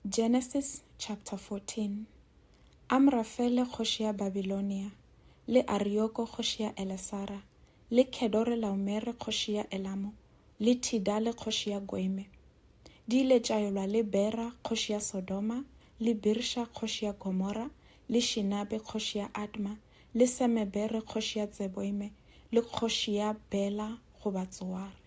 Genesis chapter 14 Amrafele kgoši ya Babilonia, le Arioko kgoši ya Elesara, le Kedorelaomere kgoši ya Elamo, le Tidale kgoši ya Goime, di ile tša yolwa le Bera kgoši ya Sodoma, le Birsha kgoši ya Gomora, le Shinabe kgoši ya Adma, le Semebere kgoši ya Tseboime, le kgoši ya Bela goba Tsoare.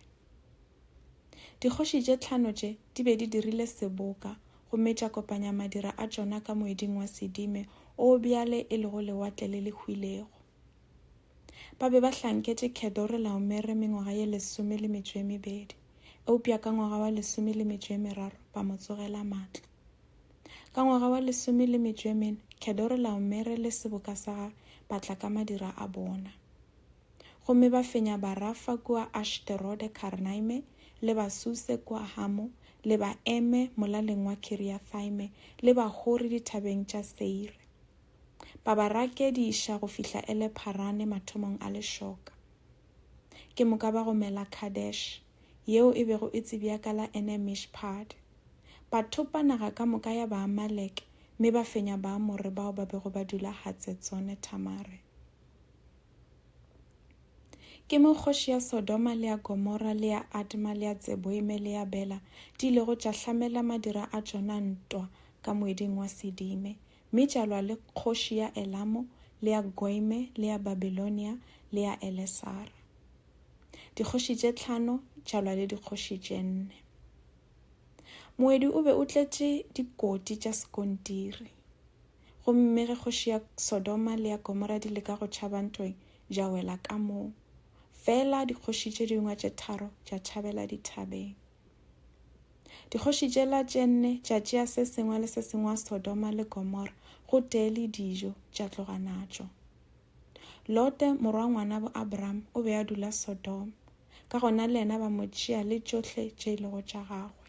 Dikgoši tše tlhano tše di be di dirile seboka gomme tša kopanya madira a tšona ka moeding wa sedime o bjale e lego Lewatle le le Hwilego. Ba be ba hlanketše Kedore-laomere mengwaga ye lesome le metšo e mebedi, eupša ka ngwaga wa lesome le metšo e meraro ba mo tsogela matla. Ka ngwaga wa lesome le metšo e mene Kedore-laomere le seboka sa gage ba tla ka madira a bona. gomme ba fenya Barafa kua Ashterode Karnaime, le Basuse kua Hamo, le Baeme molaleng wa Kiriathaime, le Bahori dithabeng tša Seire. Ba ba rakediša go fihla Ele-Pharane mathomong a lešoka. Ke moka ba gomela Kadesh, yeo e bego e tsebja ka la Ene-Mishpad. Ba thopa naga ka moka ya Baamaleke mme ba fenya Baamore bao ba bego ba dula Hatsetsone-Thamare. Ke mo kgoši ya Sodoma le ya Gomora le ya Adma le ya Tseboime le ya Bela di ilego tša hlamela madira a tšona ntwa ka moeding wa Sedime, mme tša lwa le kgoši ya Elamo le ya Goime le ya Babilonia le ya Elesara. Dikgoši tše tlhano tša lwa le dikgoši tše nne. Moedi o be o tletše dikoti tša sekontiri. Gomme ge kgoši ya Sodoma le ya Gomora di leka go tšhaba ntwe, ja wela ka moo. Fela dikgoši tše dingwa tše tharo ja tšhabela dithabeng. Dikgoši tšela tše nne tša tšea se sengwe le se sengwa Sodoma le Gomora go tee le dijo tša tloga natšo. Lote, morwa ngwana bo Abraham, o be a dula Sodoma, ka gona le yena ba mo tšea le tšohle tše e lego tša gagwe.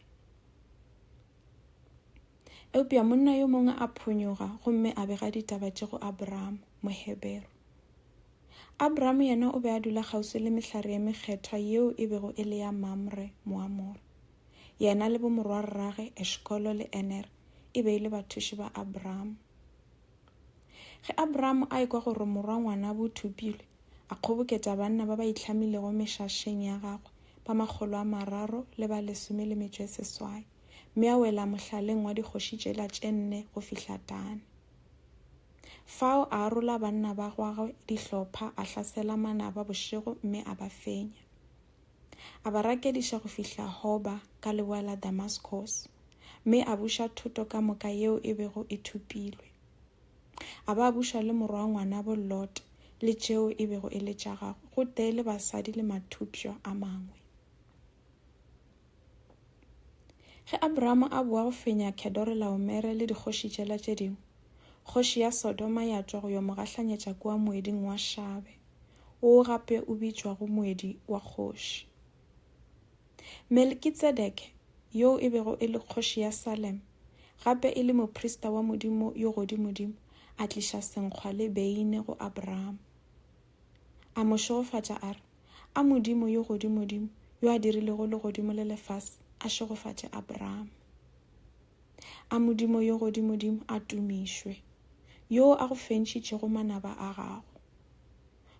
Eupša monna yo mongwe a phonyoga gomme a bega ditaba tše go Abramo, Mohebero. Abramo yena o be a dula kgauswi le mehlare ye mekgethwa yeo e bego e le ya Mamre, Moamore. Yena le bomorwarrage Eshkolo le Ener e be e le bathuši ba Abramo. Ge Abramo a ekwa gore morwa ngwana bo thopilwe, a kgoboketša banna ba ba itlhamilego mešašeng ya gagwe ba makgolo a mararo le ba lesome le metšo e seswai. mme a wela mohlaleng wa dikgoši tšela tše nne go fihla Dane. Fao a arola banna ba gwagwe dihlopha a hlasela manaba bošego mme a ba fenya. A ba rakediša go fihla Hoba ka leboa la Damaskos, mme a buša thoto ka moka yeo e bego e thupilwe. A ba buša le morwa ngwanabo Lot le tšeo e bego e le tša gagwe, gotee le basadi le mathupšwa a mangwe. Ge Abraham a boa go fenya Kedorelaomere le dikgoši tšela tše dingwe, kgoši ya Sodoma ya tšwa go yo mo gahlanyetša kua moeding wa Shabe, woo gape o bitšwago moedi wa kgoši. Melkitsedeke, yoo e bego e le kgoši ya Salem, gape e le moprista wa Modimo yo Godimodimo, a tliša senkgwa le beine go Abraham. A mo šegofatša a re, A Modimo yo Godimodimo, yo a dirilego legodimo le lefase, a šegofatše Abrahama. A Modimo yo Godimodimo a tumišwe, yo a go fentšitšego manaba a gago.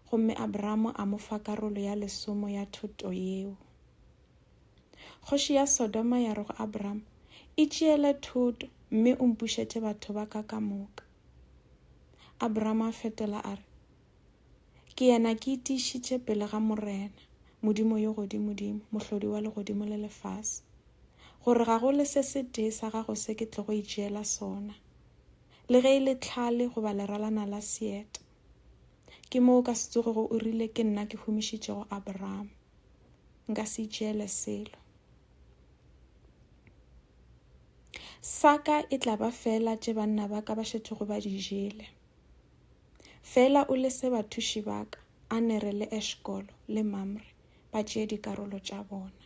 Gomme Abrahama a mo fa karolo ya lesomo ya thoto yeo. Kgoši ya Sodoma ya re go Abrahama, Itšeele thoto mme o mpušetše batho ba ka ka moka. Abraham a fetola a re, Ke yena ke itiišitše pele ga Morena, Modimo yo godimodimo, mohlodi wa legodimo le lefase, gore ga go le se se tee sa gago se ke tlogo itšeela sona, le ge e le tlhale goba leralana la seeta. Ke moo ka se tsogego o rile ke nna ke humišitšego Abraham. Nka se itšeele selo. Sa ka e tla ba feela tše banna ba ka ba šetšego ba di jele. Feela o lese bathuši ba ka, Anere le Eshkolo le Mamre, ba tšee dikarolo tša bona.